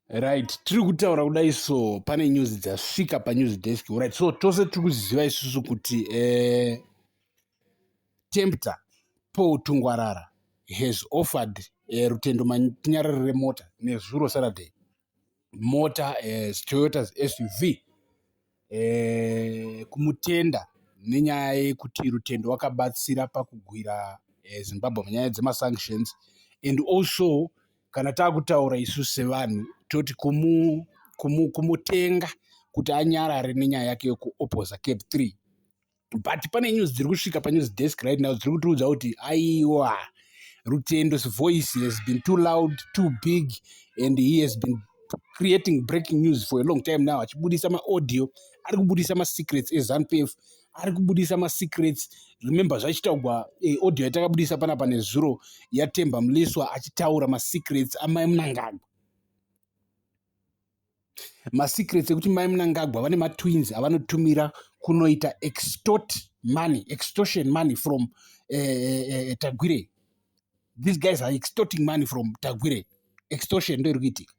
right tiri kutaura kudai so pane news dzasvika panews desk right so tose tiri kuziva isusu kuti eh, tempter paul tungwarara has offered eh, rutendo manyarari remota nezuro saturday mota eh, toyotas suv kumutenda nenyaya yekuti Rutendo wakabatsira pakugwira Zimbabwe munyaya dzemasanctions and also kana takutaura isu sevanhu toti kumutenga kuti anyarare nenyaya yake yekuopposer Cape 3. but pane news dziri kusvika panews desk right now dziri kutiudza kuti aiwa rutendo's voice has been too loud too big and he has been creating breaking news for a long time now achibudisa maaudio ari kubudisa masecrets ezanpf ari kubudisa masecrets remember zvachitaugwa eh, audio yatakabudisa pana pane zuro yatemba mliswa achitaura masecrets amai munangagwa masecrets ekuti mai munangagwa vane matwins avanotumira kunoita extort money extortion money from uh, uh, tagwire these guys are extorting money from tagwire extortion ndo iri kuitika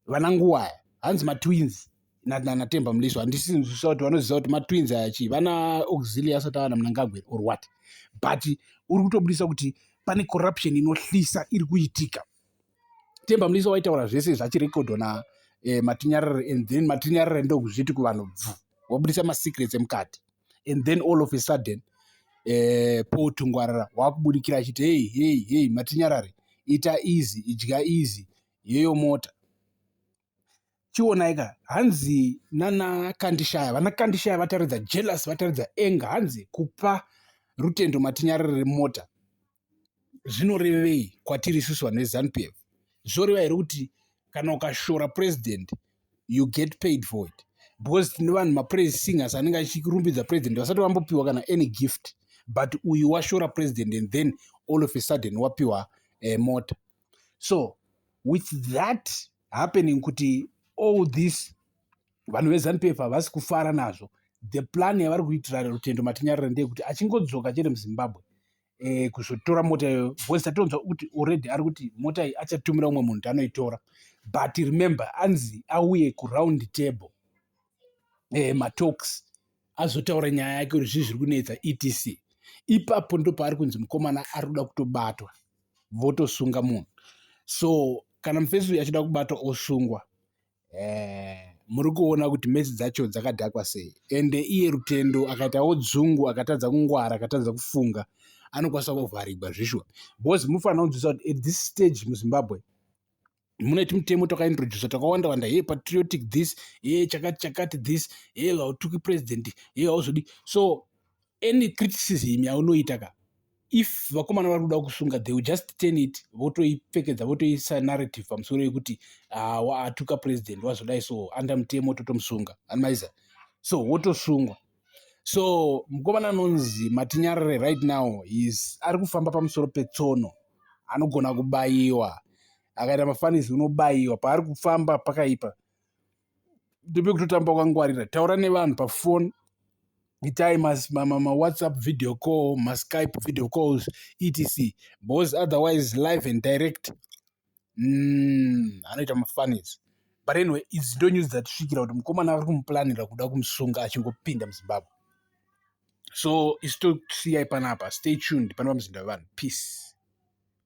vana nguwaya hanzi matwins natemba muleso handisinzwisa kuti vanoziva kuti matwins aya chii vana auxilia asati avana munangagwe or what but uri kutobudisa kuti pane corruption inohlisa iri kuitika temba mlisa waitaura zvese zvachirekodho na eh, matinyarare and then matinyarare ndokuzviti kuvanhu bvu wabudisa masecrets emukati and then all of a sudden eh, paul tungwarara wakubudikira achiti hei hei hei matinyarare ita easy idya easy yeyo mota chionai ka hanzi nana kandishaya vana kandishaya vataridza jealous vataridza enga hanzi kupa rutendo matinyariro remota zvinorevei kwatiri isusu vanhu vezanup f zvoreva here kuti kana ukashora president you get paid for it because tine vanhu mapraise singers anenge achirumbidza president vasati vambopiwa kana any gift but uyu washora president and then all of a sudden wapiwa uh, mota so with that happening kuti all this vanhu vezanup havasi kufara nazvo the plan yavari kuitira rutendo matinyarira ndeyekuti achingodzoka chete muzimbabwe eh, kuzotora mota iyoyo bcause tatonzwa kuti already ari kuti mota iyi achatumira umwe munhu tanoitora but remember anzi auye kuround table eh, matalks azotaura nyaya yake kuti zvii zviri kunetsa etc ipapo ndopaari kunzi mukomana ari kuda kutobatwa votosunga munhu so kana mufesi uyu achida kubatwa osungwa eh, muri kuona kuti mesi dzacho dzakadhakwa sei ende iye rutendo akaitawo dzungu akatadza kungwara akatadza kufunga anokwanisa kuvharigwa zvishwa bcause mufanira kunzwisa kuti at this stage muzimbabwe mune timutemo twakaintrodusa twakawanda wanda hey patriotic this hey chakati chakati this hey hautuki president hey hauzodi so any criticism yaunoita ka if vakomana vari kuda kusunga they will just turn it votoipfekedza votoisa narrative pamusoro yekuti ah, waatuka president wazodai so under mutemo totomusunga anmaiza so wotosungwa so mukomana anonzi matinyarare right now is ari kufamba pamusoro petsono anogona kubayiwa akaita mafanisi unobayiwa paari kufamba pakaipa ndope kutotamba kwangwarira taura nevanhu pafoni itai mawhatsapp ma, ma video call maskype video calls etc bcause otherwise live and direct umm anoita mafunnies but anyway idzi ndo news dzatisvikira kuti mukomana ari kumuplanira kuda kumusunga achingopinda muzimbabwe so isu tosiyai panapa stay tuned panopa muzinda wevanhu peace